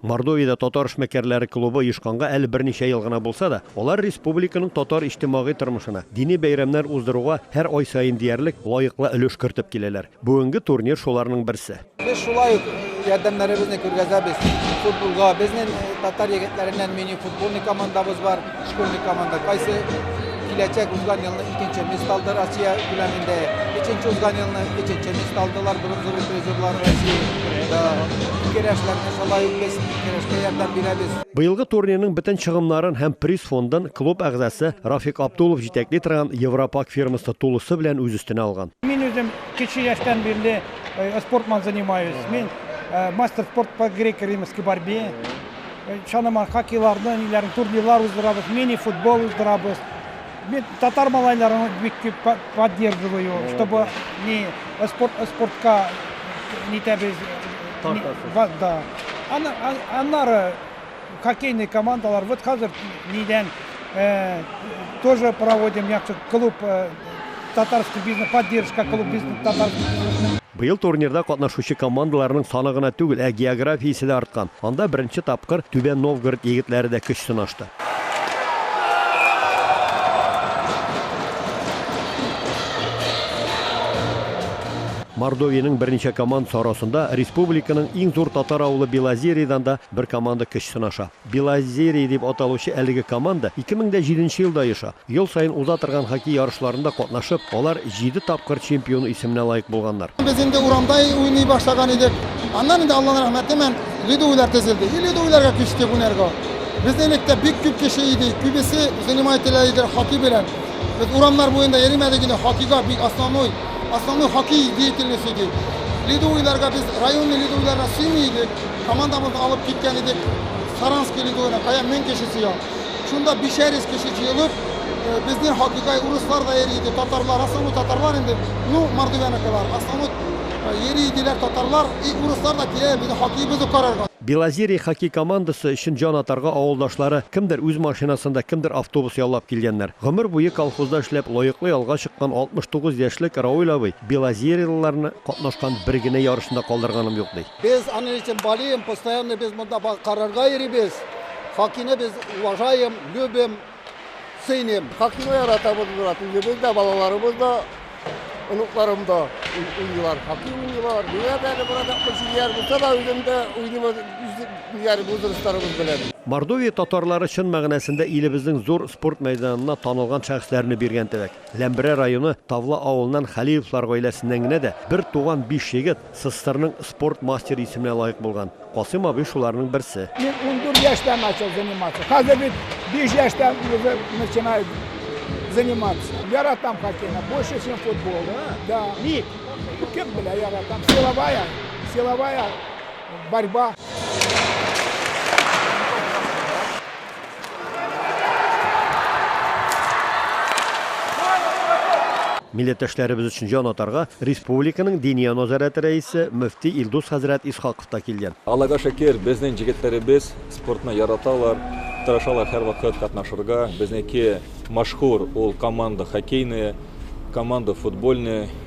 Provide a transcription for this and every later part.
Мордовиядә татар эшмәкәрләре клубы оешканга әле берничә ел гына булса да, алар республиканың татар иҗтимагый тормышына, дини бәйрәмнәр уздыруга һәр ай саен диярлек лаеклы өлеш кертеп киләләр. Бүгенге турнир шуларның берсе. Без шулай ук ярдәмнәребезне күргәзәбез футболга. Безнең татар егетләреннән мини-футбольный командабыз бар. Школьный команда кайсы киләчәк узган елны икенче место алды Россия күләмендә. Өченче узган елны өченче место алдылар бронзовый призерлар Россия. Керәшләрне шулай ук без керәшкә ярдәм бирәбез. Быелгы турнирның бөтен чыгымнарын һәм приз фондын клуб әгъзасы Рафик Абдулов җитәкли торган Европак фирмасы тулысы белән үз өстенә алган. Мин үзем кече яшьтән бирле спортман занимаюсь. Мин мастер спорт по греко-римльски борьбе. Чанама хоккейларны, ниләрне, турнирлар уздырабыз, мини-футбол уздырабыз. Мин татар малайларын бик күп по- поддерживаю, чтобы не спорт, спортка не тәбез. Тартасыз. Ба- Да. Аны, а- аннары хоккейный командалар, вот хәзер нидән э, тоже проводим яхшы клуб э, татарский бизнес, поддержка клуб бизнес татар. Быел турнирда катнашучы командаларның саны гына түгел, ә географиясе дә арткан. Анда беренче тапкыр Түбән Новгород егетләре дә көч сынашты. Мордовиянең берничә командасы арасында республиканың иң зур татар авылы Белозериядән дә бер команда көч сынаша. Белозерье дип аталучы әлеге команда 2007 нче елда оеша. Ел саен уза торган хоккей ярышларында катнашып, алар җиде тапкыр чемпион исеменә лаек булганнар. Без инде урамда уйный башлаган идек. Аннан инде, Алланың рәхмәтемен, ледовыйлар төзелде. И ледовыйларга күчтек уйнарга. Без элек тә бик күп кеше идек, күбесе занимать ителә иде хоккей белән. Без урамнар буенда йөримәдек инде, хоккейга бик основной, основной хоккей деятельность идек. Ледовыйларга без районный ледовыйларга сөйми идек. Командабызны алып киткән идек Саранск илигүенә, кая мең кеше сыя. Шунда бишәр йөз кеше җыелып, безнең хоккейга урыслар да йөри иде, татарлар, основном татарлар инде, ну, Мордовияныкылар, основном йөри иделәр татарлар, и урыслар да киләләр безнең хоккеебызны карарга. Белозерье хоккей командасы өчен җан атарга авылдашлары кемдер үз машинасында, кемдер автобус яллап килгәннәр. Гомер буе колхозда эшләп, лаеклы ялга чыккан 69 яшьлек Рауль абый белозерьелыларны катнашкан бер генә ярышында калдырганым юк, ди. Без аны этим болеем, постоянно без монда ба карарга йөрибез. Хакины без уважаем, любим, ценим. Хакины яратабыз без аты үзебез дә, балаларыбыз да, онукларым да уйныйлар. Хакы уйныйлар. Менә дә әле бара да кызыяр булса да үзем дә уйныйм үзем бу дустарыбыз белән. Мордовия татарлары чын мәгънәсендә илебезнең зур спорт мәйданына танылган шәхесләрне биргән теләк. Ләмберә районы Тавла авылыннан Хәлиевлар гаиләсеннән генә дә бер туган биш егет, СССРның спорт мастеры исеменә лаек булган Касыйм абый шуларның берсе. Мин ундүрт яшьтән начал заниматься. Хәзер бит биш яшьтән уже начинаю заниматься. Яратам хоккейны, больше чем футбол. Да. Ник? Кем белә, яратам. Силовая, силовая борьба. Милләттәшләребез өчен җан атарга республиканың Диния назарәте рәисе, мөфти Илдус хәзрәт Исхаков та килгән. Аллага шөкер, безнең җегетләребез спортны яраталар, тырышалар һәрвакыт катнашырга. Безнеке мәшһүр, ул команда хоккейная, команда футбольная,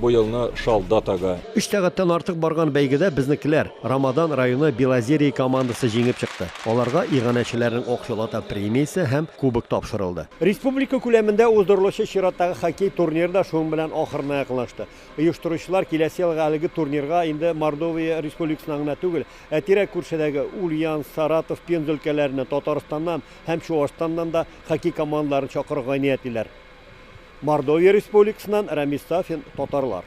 бу елны шал датага. Өч сәгатьтән артык барган бәйгедә безнекеләр, Рамадан районы Белозерье командасы җиңеп чыкты. Аларга иганәчеләрнең акчалата премиясе һәм кубок тапшырылды. Республика күләмендә уздырылучы чираттагы хоккей турниры да шуның белән ахырына якынлашты. Оештыручылар киләсе елга әлеге турнирга инде Мордовия Республикасыннан гына түгел, ә тирә-күршедәге Ульян, Саратов, Пенза өлкәләреннән, Татарстаннан, һәм Чуашстаннан да хоккей командаларын чакырырга ниятлиләр. Мордовия Республикасыннан Рәмис Сафин, татарлар.